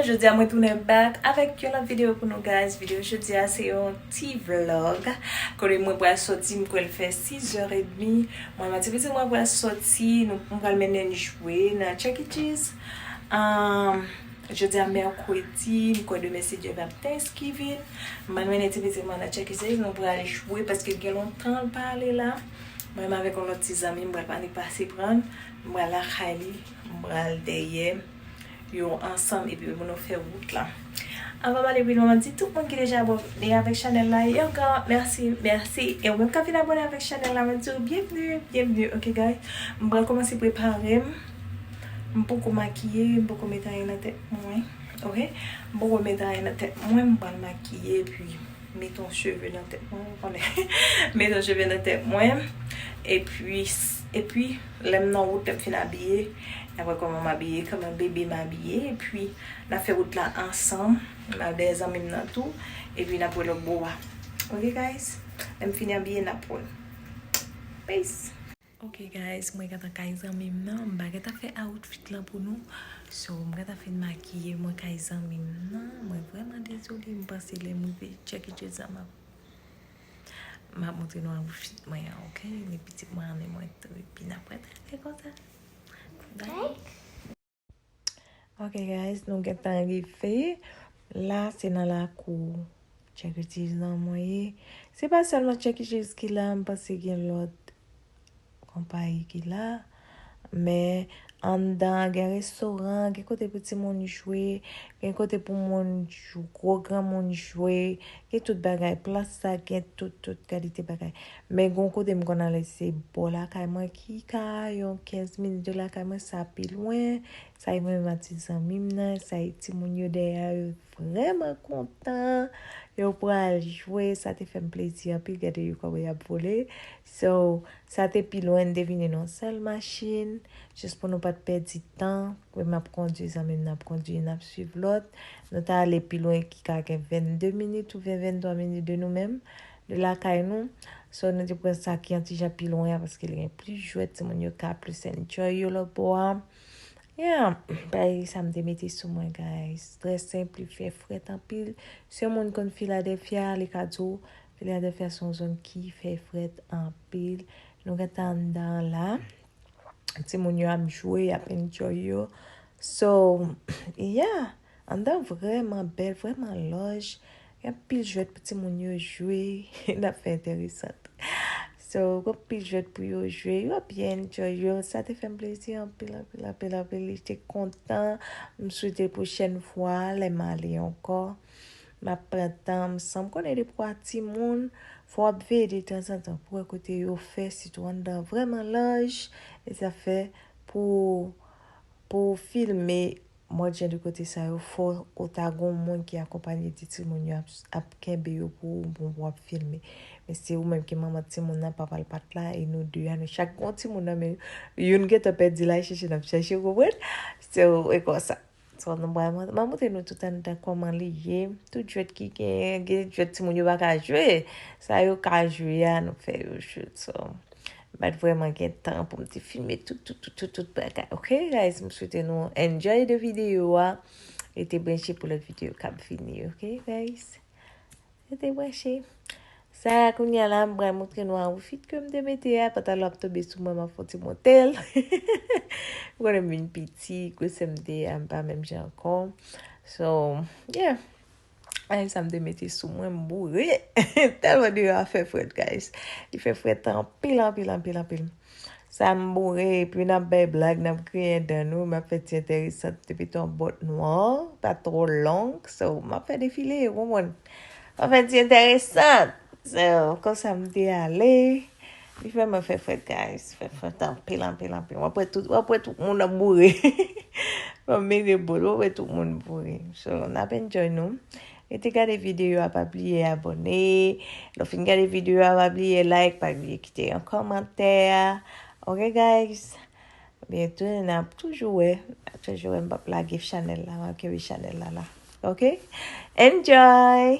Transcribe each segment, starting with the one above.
Jodia mwen tounen back avèk yon lòt videyo pou nou guys. Videyo jodia se yon ti vlog. Kore mwen pral soti, mwen pral fè 6 or et demi. Mwen mati piti mwen pral soti, mwen pral mennen jwe nan Chuck E. Cheese. Jodi a mèkredi, m kwè demen se dyòl ap thanksgiving, m al mennen ti pitit mwen nan tcheke se li nou pral jwe paske gen lontan l pa ale la, mwen menm avèk yon lòt ti zanmi m pral pale pase pran l, m pral lakay li, m pral dèyè yo ansanm epi pou nou fè wout la. Anvan m ale pi lwen, di tout moun ki deja abòne avèk chanèl la yon gran mèsi, mèsi e ou menm k ap vin abòne avèk chanèl la mwen di w byenvni, byenvni ok guys m pral kòmanse prepare m. M poko makiye, m poko met anyen nan tèt mwen ok, m poko met anyen nan tèt mwen, m pral makiye epi met yon cheve nan tèt mwen, ou konnen met yon cheve nan tèt mwen epi epi lè m nan wout lè m fin abiye nap wè kòman m abiye, kòman bebe m abiye epi nap fè wout la ansanm m al dèyè zanmi m nan tou epi nap wè lòt bò a ok guys lè m fin abiye nap wè peace. Ok guys mwen gentan kay zanmim nan m pa gentan fè outfit lan pou nou so m gentan fin makiye mwen kay zanmim nan mwen vreman dezole m panse lèm rive check it out sa map map montre nou outfit mwen an ok ni pitit mwen an ni mwen tou epi nap pataje konsa bye. Ok guys, nou gentan rive. La se nan lakou Chuck E. Cheese lan mwen ye. Se pa selman Chuck E. Cheese ki la, m panse gen lot konpayi ki la. Men, anndan gen restoran, gen kote pou timoun jwe, gen kote pou moun gwo granmoun jwe, gen tout bagay. Plas sa gen tout tout kalite bagay. Men gon kote m konn ale se bò lakay mwen ki ka yon 15 minit de lakay mwen sa pi lwen, sa e mwen menm ak ti zanmi m nan, sa e timoun yo dèyè a yo vrèman kontan, yo pral jwe, sa te fè m plezi anpil gade yo kòman y ap vole, so sa te pi lwen n te vin yon nan sèl machin, jis pou nou pa t pèdi tan, mwen m ap kondui zanmi m nan ap kondui n ap suiv lòt, nou ta ale pi lwen ki ka gen 22 minit oubyen 23 minit de nou menm, Li lakay nou, so nou te pran sa ki yon ti jan pi lwen an paske li gen plis jwèt, timoun yo ka plis enjoy yo lòtbò a. Yeah, bay sa m te mete sou mwen guys. Trè senp, li fè frèt anpil. Si yon moun konn Philadelphia, li ka di w Philadelphia se yon zòn ki fè frèt anpil. Nou gen tan anndan an la. Timoun yo ap jwe, y ap enjoy yo. So, yeah. Anndan an vrèman bèl, vrèman laj, gen anpil jwèt pou timoun yo jwe, yon afè enteresan. So, gen anpil jwèt pou yo jwe, yo ap byen enjoy yo, sa te fè m plezi anpil, anpil, anpil, anpil, li te kontan, m swete pwochèn fwa lè m ale ankò, m ap pran tan m, san m konnen depi w a timoun, fò w ap veye detanzantan pou w wè kote yo fè, sitou anndan an vrèman laj, e sa fè pou, pou w filme. Mòd jan de kote sa yo fò ou ta gon moun ki akonpanye di timoun yo ap kenbe yo pou ou bon pou ap filme men se ou menm ki manman timoun nan papal pat la e nou 2 a nou chak gon timoun nan men youn gentan pèdi la chèche nap chèche ou konprann se ou e konsa so nou pral mwen mwen montre nou tout anndan kòman li ye tout jwèt ki gen gen jwèt timoun yo pa ka jwe sa yo ka jwe a nou fè yo jwe so M pat vreman gen tan pou m te filme tout tout tout tout tout bagay ok guys m swete nou enjoy de video a rete branche pou lot video kap vini ok guys rete branche sa a kounya la m pral montre nou awifit ke m te mete a pantalon ap tobe sou mwen m ap fon ti montel m konnen m vin piti gwosè m te a m pa menm jan ankò so yeah Ay, sa m te mete sou mwen, m boure. Tèlman deyò a fè frèt, guys. Li fè frèt anpil, anpil, anpil, anpil. Sa m boure, epi n ap bay blag, n ap griyen dan nou, m ap fè ti enteresant depi ton bòt nwa, pa twò long. So, m ap fè defile, ou konprann. M ap fè ti enteresant. So, konsa m te ale. Li fè mwen fè frèt guys, fè frèt anpil anpil anpil. Wap wè tout, wap wè tout moun ap boure. Wap mire bol, wap wè tout moun boure. So, nap enjoy nou. Rete gade video a, pa bliye abone. Lò fin gade video a, pa bliye like, pa bliye kite yon komantè. Ok guys, byento nap toujou wè, nap toujou wè mbap lage chanèl la, map kenbe chanèl la la. Ok, enjoy!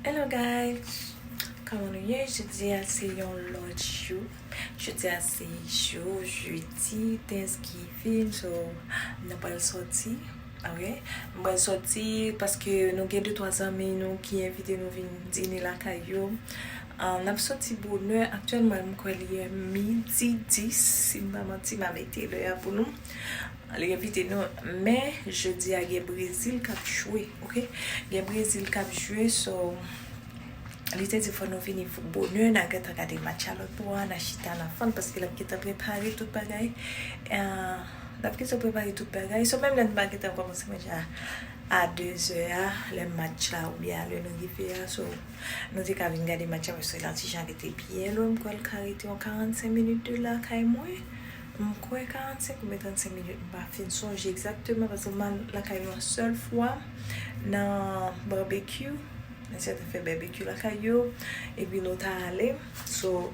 Hello guys Koman nou ye jodi a se yon lòt jou Jodi a se jou jeudi thanksgiving so nou pral sòti ok nou pral sòti paske nou gen 2 3 zanmi nou ki envite nou vin dine lakay yo n ap sòti bonè aktyèlman m kwè li midi 10 si m pa manti m a mete lè a pou nou Li repete nou men jodi a gen brezil kap jwe ok gen brezil kap jwe so li te di fò nou vini bonè na gentan gade match a lòt bò a na chita na fann paske lap gentan prepare tout bagay lap gentan prepare tout bagay so menm lè nou pa gentan kòmanse manje a a dezè a lè match la ou byen a lè nou rive a so nou te ka vin gade match a paske la ti jan rete byen lwen m kwè l ka rete yon karannsenk minit de la kay mwen M kwè 45 oubyen 35 minit m pa fin sonje egzakteman paske m al lakay yon sèl fwa nan barbecue mwen sa te fè barbecue lakay yo epi nou ta ale so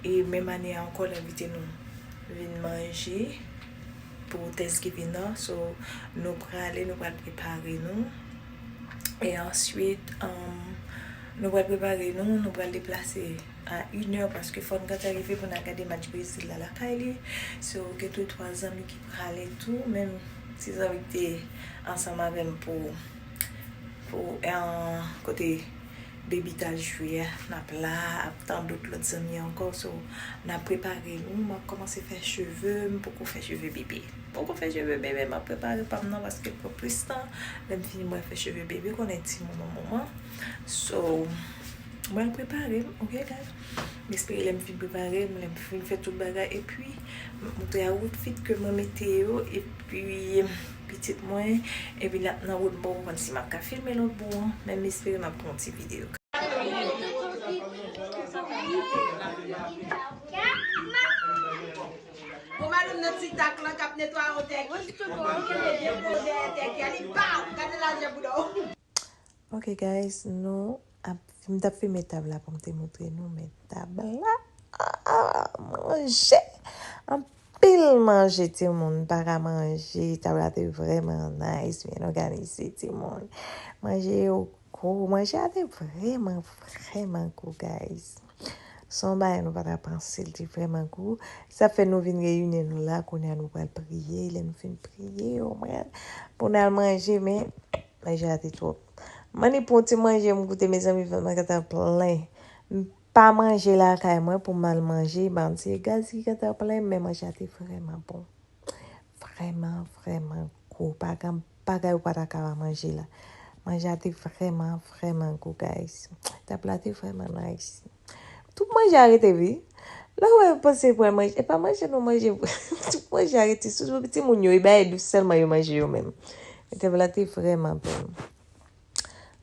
e menm ane a ankò l envite nou vin manje pou Thanksgiving nan so nou prale nou pral prepare nou e answit nou pral prepare nou nou pral deplase a yn heure paske fòn Gata rive poun al gade match Brésil la lakay li so gen tou 3 zanmi ki prale tou menm ti zanmi ki te ansanm avèm pou pou kote Baby tal jwe a nap la ap tan dot lòt zanmi ankò so nap prepare nou map kòmanse fè cheve m poko fè cheve Bébé m poko fè cheve Bébé map prepare pam nan paske l pran plis tan lèm fini mwen fè cheve Bébé konnen ti moman moman so. Mwen ap prepare m ok guys. M espere lè m fin prepare m, lè m fin fè tout bagay epi m ap montre a outfit ke mwen mete yo epi pitit mwen epi n ap nan wout m poko konn si m ap ka filme lòt bò an men m espere m ap pran yon ti video. Ok guys nou ap m tap filme tab la pou m te montre nou men tab la manje anpil manje timoun m paka manje tab la te vreman nice byen òganize timoun manje yo gou manje a te vreman vreman gou guys. Se yon bagay nou pa ta panse li te vrèman gou. Sa fè nou vin reyini nou la kounye a nou pral priye. Lè nou fin priye yo mwen pou nou al manje men manje a te twòp. Mani pou yon ti manje m goute mezanmi vant mwen gentan plen. M pa manje lakay mwen pou m al manje ban m se gaz ki gentan plen m men manje a te vrèman bon. Vrèman vrèman gou pa gen bagay ou pa ta ka pa manje la. Manje a te vrèman, vrèman gou guys. Tab la te vrèman nice. Tout manje a rete wi. Lè ou wè yo panse pou al manje, e pa manje nou manje. Tout manje a rete, sitou pou ti moun yo, e bagay dous sèlman yo manje yo menm. E tab la te vrèman bon.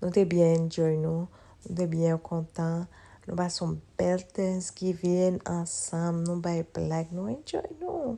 Nou te byen enjoy nou, nou te byen kontan. Nou pase yon bèl Thanksgiving ansanm, nou bay blag, nou enjoy nou.